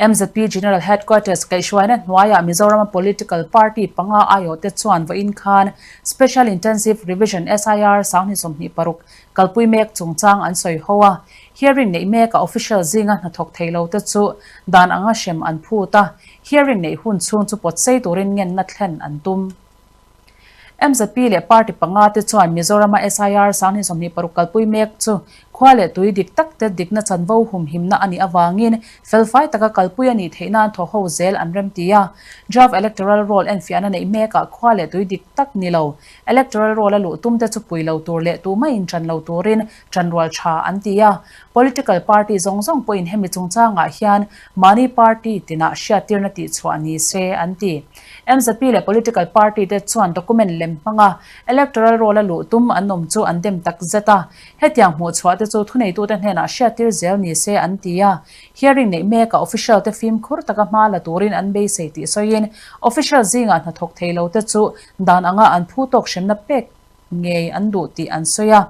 Mzp General Headquarters kaihhruaina hnuaiah Mizorama Political Party panga aiawhte chuan vawiin khan Special Intensive Revision, SIR, Sanghni sawmhnih paruk kalpui mek chungchang an sawi ho a. Hearing neih meka official zinga hnathawk thei lote chu dan anga hrem an phut a, hearing neih hun chhung chu pawtsei turin ngenna thlen an tum. Mcp leh party panga te chuan Mizorama SIR sang thin sawmhnih paruk kalpui mek chu khua leh tui dik tak te dikna chanvo hum himna a nih avangin felfai taka kalpui a nih theih nan thaw ho zel an remti a. Draft electoral roll enfiahna neih mekah khua leh tui dik tak ni lo, electoral roll-a luh tum te chu pui lo tur leh tumah inṭan lo turin tanrual tha an ti a, political party zawng zawng pawhin hemi chungchangah hian mahni party tinah hriattirna tihchhuah ni se an ti. Mcp leh political party te chuan document lem hmanga electoral roll-a luh tum an awm chu an dem tak zet a, hetiang hmuhchhuah te chu thuneitute hnenah hriattir zel ni se an ti a, hearing neih mekah official te fimkhur taka hma la turin an beisei tih sawiin official zingah hnathawk thei lo te chu dan anga an phu tawk hremna pek ngei an duh tih an sawi a.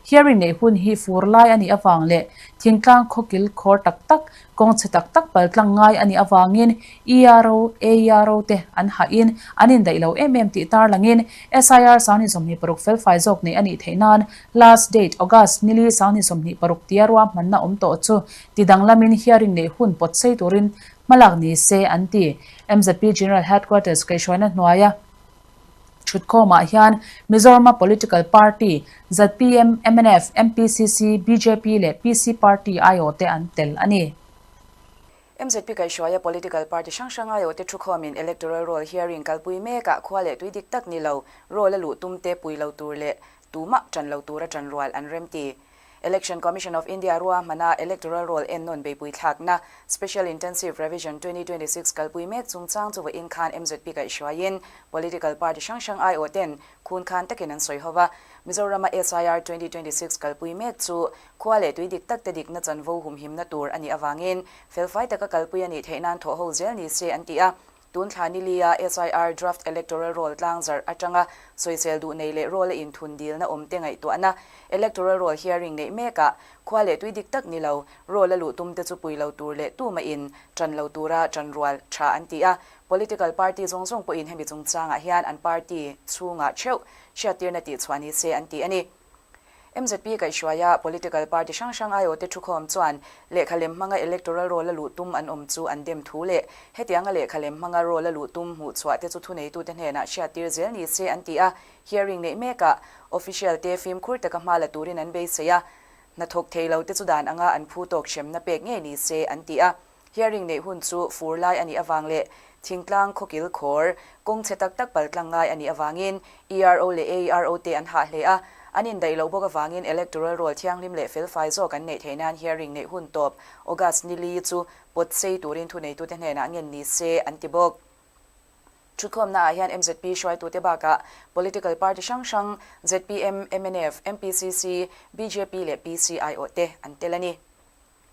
Hearing neih hun hi fur lai a nih avang leh thingtlang khawkil khawr tak tak, kawng chhe tak tak paltlang ngai a nih avangin ERO, AERO te an hahin an indaih lo em em tih tar langin SIR Sanghni sawmhnih paruk fel fai zawk neih a nih theih nan last date August nili Sanghni sawmhnih paruk tia ruahmanna awm tawh chu ti danglamin hearing neih hun pawt sei turin hmalak ni se an ti. MZP General Headquarters kaihhruaina hnuaia. Thutkhawmah hian Mizorama Political Party, zpm, mnf, mpcc, bjp leh PC Party aiawh te an tel a ni. Mzp kaihhruaia Political Party hrang hrang aiawh te thukhawm in Electoral Roll hearing kalpui mek ah khua leh tui dik tak ni lo, Roll a luh tum te pui lo tur leh tumah tan lo tura tan rual an rem ti. Election Commission of India rua hmana electoral roll en nawn beipui thlakna, Special Intensive Revision twenty twenty six, kalpui mek chungchang chu vawiin khan MZP kaihhruaiin political party hrang hrang aiawh ten khun khan takin an sawi ho va, Mizorama SIR twenty twenty six kalpui mek chu khua leh tui dik takte dikna chanvo humhimna tur a nih avangin felfai taka kalpui a nih theih nan thawh ho zel ni se an ti a, Tun thla nili-a SIR Draft Electoral Roll tlang zarh atanga sawichel duh nei leh roll-a inthun dilna awmte ngaihtuahna Electoral Roll hearing neih mekah khua leh tui dik tak ni lo, roll-a luh tumte chu pui lo tur leh tuma in ṭan lo tura ṭan rual ṭha an ti a. Political party zawng zawng pawhin hemi chungchangah hian an party chhungah ṭheuh hriattirna tihchhuah ni che an ti a ni. Mzp kaihhruaia political party hrang hrang ai awte thu khawm chuan lehkha lem hmanga electoral role a luh tum an awm chu an dem thu leh hetianga lehkha lem hmanga role a luh tum hmuh chhuah te chu thuneitute hnenah hriattir zel ni che an ti a, hearing neih mekah official te fimkhur taka hma la turin an beisei a, hnathawk thei lo te chu dan anga an phu tawk hremna pek ngei ni che an ti a. Hearing neih hun chu fur lai a nih avang leh thingtlang khawkil khawr kawng chhe tak tak pal tlang ngai a nih avangin ERO leh AERO te an hah hle a, an indaih loh bawk avangin electoral roll thianghlim leh felfai zawk an neih theih nan hearing neih hun tawp August ni li chu pawt sei turin thuneitute hnenah ngen ni se an ti bawk. Thuthlawmna ah hian mzp hruaitute bakah political party hrang hrang zpm, mnf, mpcc, bjp leh PCIO te an tel a ni.